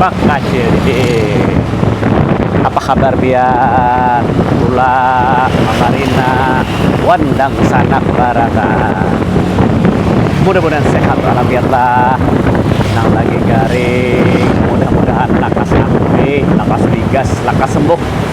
bakacil deh apa kabar biar tula mamarina wan dangsanak barataan mudah-mudahan sehat walafiat lah nang lagi garing mudah-mudahan lakas ampi lakas ligas lakas sembuh.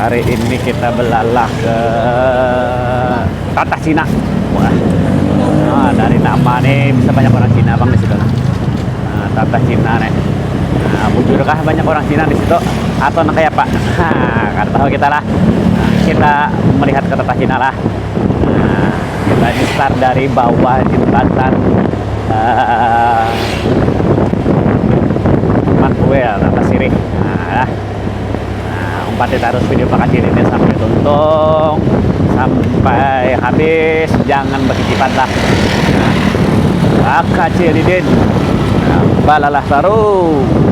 Hari ini kita belalah ke Tatah Cina. Wah. Nah, dari nama nih bisa banyak orang Cina bang di situ. Nah, Tatah Cina nih. Nah, bujurkah banyak orang Cina di situ atau nah kayak apa? Karena tahu kita lah. Nah, kita melihat ke Tatah Cina lah. Nah, kita ini start dari bawah jembatan uh, Maxwell, Atas Sirih. Nah, nah umpati terus video pakacil ini sampai tuntung sampai habis jangan berkecipat lah nah, pakacil didin nah, balalah terus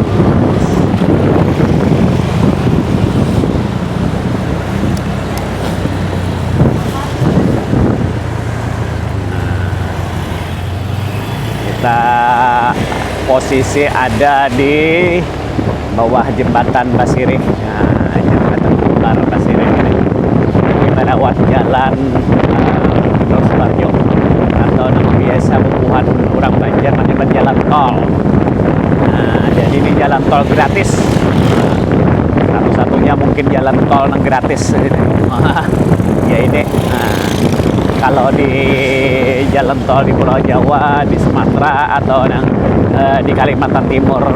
kita posisi ada di bawah jembatan basirih um jembatan kembar basirih ini di mana wan jalan um Jenderal Sutarjo atau nang biasa bubuhan urang Banjar manyambat jalan tol um jadi ni jalan tol gratis satu-satunya mungkin jalan tol nang gratis ya ini um kalau di jalan tol di pulau Jawa di Sumatera atau nang di Kalimantan Timur.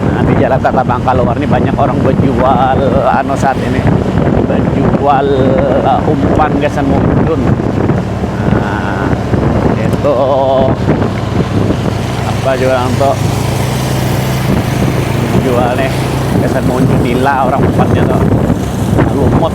Nah, di Jalan Tatabang kaluar ni banyak orang bajual anu saat ini bajual umpan gasan mauntun. Nah, itu apa juga orang tu jual ni gasan mauntun nila orang umpannya tu lumut.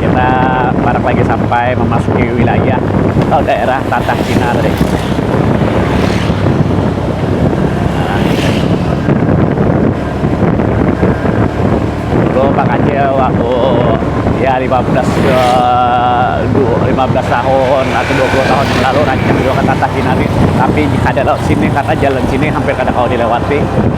kita barak lagi sampai memasuki wilayah atau daerah Tatah Cina tadi dulu Pak Kacil waktu ya 15 15 eh, tahun atau 20 tahun yang lalu rancang juga ke Tatah Cina nih tapi kada lewat sini karena jalan sini hampir kada kau dilewati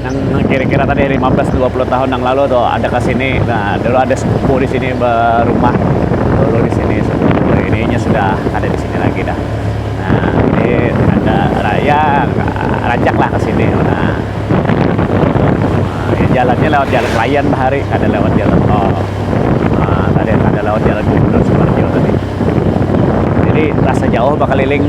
Nang kira-kira tadi lima belas dua puluh tahun nang lalu tu ada ke sini, nah dulu ada sepupu di sini berumah dulu di sini sepupu ini nya sudah kada di sini lagi dah, nah jadi ada ya rancak lah ke sini nah ya jalan nya lewat jalan layan bahari kada lewat jalan tol um tadi kada lewat jalan gubernur sumarjo tadi jadi rasa jauh bakaliling.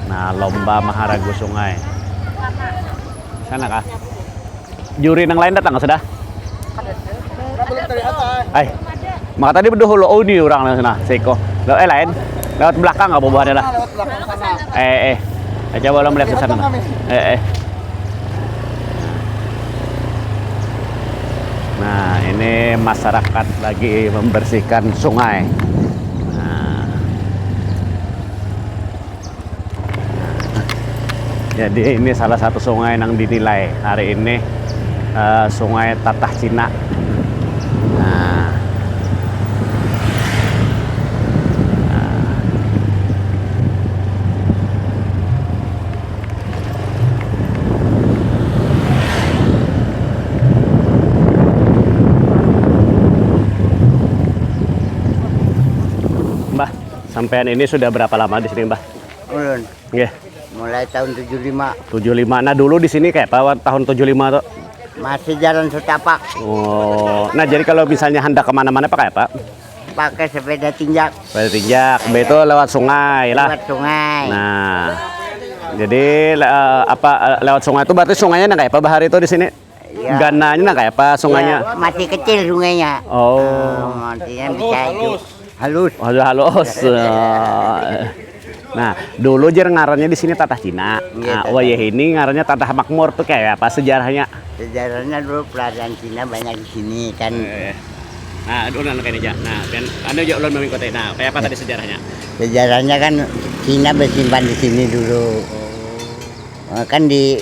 Nah, lomba maharagu sungai. Sana kah? Juri nang lain datang kah sudah? Ay, maka tadi bedahulu oh ni orang nang sana, seko. Lo eh lain, lewat belakang kah bubuhannya lah? Eh eh, eh coba lo melihat ke sana. Eh eh. Nah, ini masyarakat lagi membersihkan sungai. Jadi ini salah satu sungai nang dinilai hari ini uh, sungai Tatah Cina. Nah. nah. Bah. Sampean ini sudah berapa lama di sini, Mbah? Ulun. Nggih. Mulai tahun 75. 75. Nah, dulu di sini kayak apa tahun 75 tuh? Masih jalan setapak. Oh. Nah, jadi kalau misalnya hendak kemana mana pakai apa? Pakai sepeda tinjak. Sepeda tinjak. Mbak itu lewat sungai lah. Lewat sungai. Nah. Jadi le, eh, apa eh, lewat sungai itu berarti sungainya nang kayak apa bahari itu di sini? Iya. Gananya nah kayak apa sungainya? Iya, masih kecil sungainya. Oh. Uh, maksudnya bisa itu halus. Halus halus. Nah, dulu jer ngarannya di sini Tatah Cina. Ya, nah, oh ya ini ngarannya Tatah Makmur tuh kayak apa sejarahnya? Sejarahnya dulu pelajaran Cina banyak di sini kan. Eh. Nah, dulu anak ini Nah, kan anu aja ulun mami kota. Nah, kayak apa tadi sejarahnya? Sejarahnya kan Cina bersimpan di sini dulu. Oh. Nah, kan di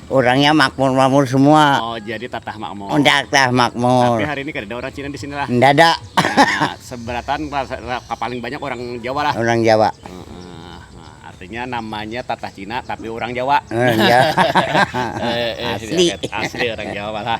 Urangnya makmur-makmur semua. Oh, jadi tatah makmur. Unda tatah makmur. Tapi hari ini kadada orang Cina di sini lah. Nda ada. Nah, seberataan paling banyak orang Jawa lah. Orang Jawa. Artinya namanya tatah Cina tapi orang Jawa. Orang Jawa. Asli. Asli orang Jawa lah.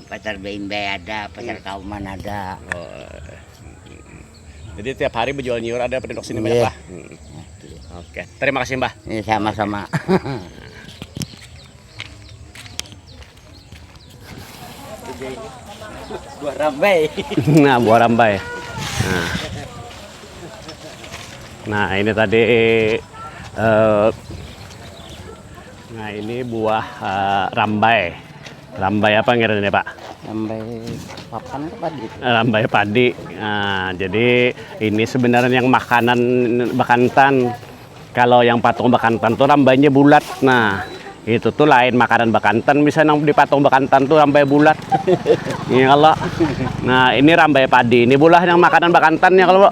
pasar beimbay ada pasar kauman ada jadi tiap hari bejual nyiur ada penduduk sini banyak lah oke terima kasih mbah ini sama-sama buah rambai nah buah rambai nah, nah ini tadi eh, Nah ini buah uh, rambai. Rambai apa ngira ini Pak? Rambai papan ke padi? Rambai padi. Nah, jadi ini sebenarnya yang makanan bakantan. Kalau yang patung bakantan tuh rambainya bulat. Nah, itu tuh lain makanan bakantan misalnya di patung bakantan tuh rambai bulat. Ini iya, kalau nah ini rambai padi. Ini bulah yang makanan bakantan ya kalau.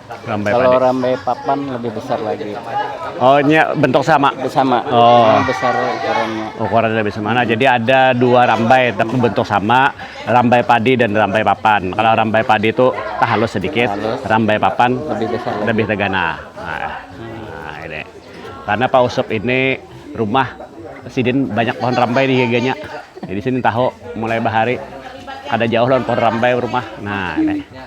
Rambai Kalau padi. rambai papan lebih besar lagi. Oh, ini bentuk sama. Sama. Oh. Cuma besar ukurannya. Ukurannya lebih sama. Nah, jadi ada dua rambai tapi bentuk sama, rambai padi dan rambai papan. Kalau rambai padi itu tak halus sedikit, Halus. rambai papan Lebih besar lagi. lebih tegana. Nah, nah, ini. Karena Pak Usup ini rumah sidin banyak pohon rambai di giganya. Jadi sini tahu mulai bahari kada jauh lawan pohon rambai rumah. Nah, ini.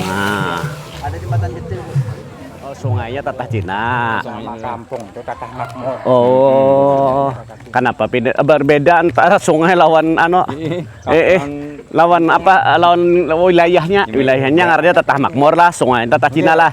nah ada jembatan kecil sungainya tatah cina kampung tatah makmur oh kenapa pindah berbeda antara sungai lawan ano eh, eh lawan apa lawan wilayahnya wilayahnya ngarannya tatah makmur lah sungai tatah cina lah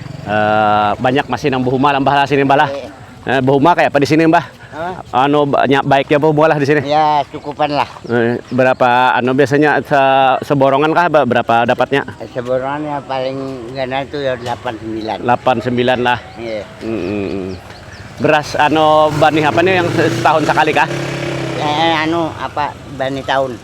banyak masih nang buhuma lah mbah lah sini mbah lah. Iya. Eh, buhuma kayak apa di sini mbah? Hah? Anu banyak baiknya buhuma lah di sini. Ya cukupan lah. Eh, berapa anu biasanya se seborongan kah berapa dapatnya? Eh, seborongan ya paling gana itu ya 89. 89 lah. Iya. Mm -mm. Beras anu banih apa nih yang setahun sekali kah? Eh, anu apa bani tahun.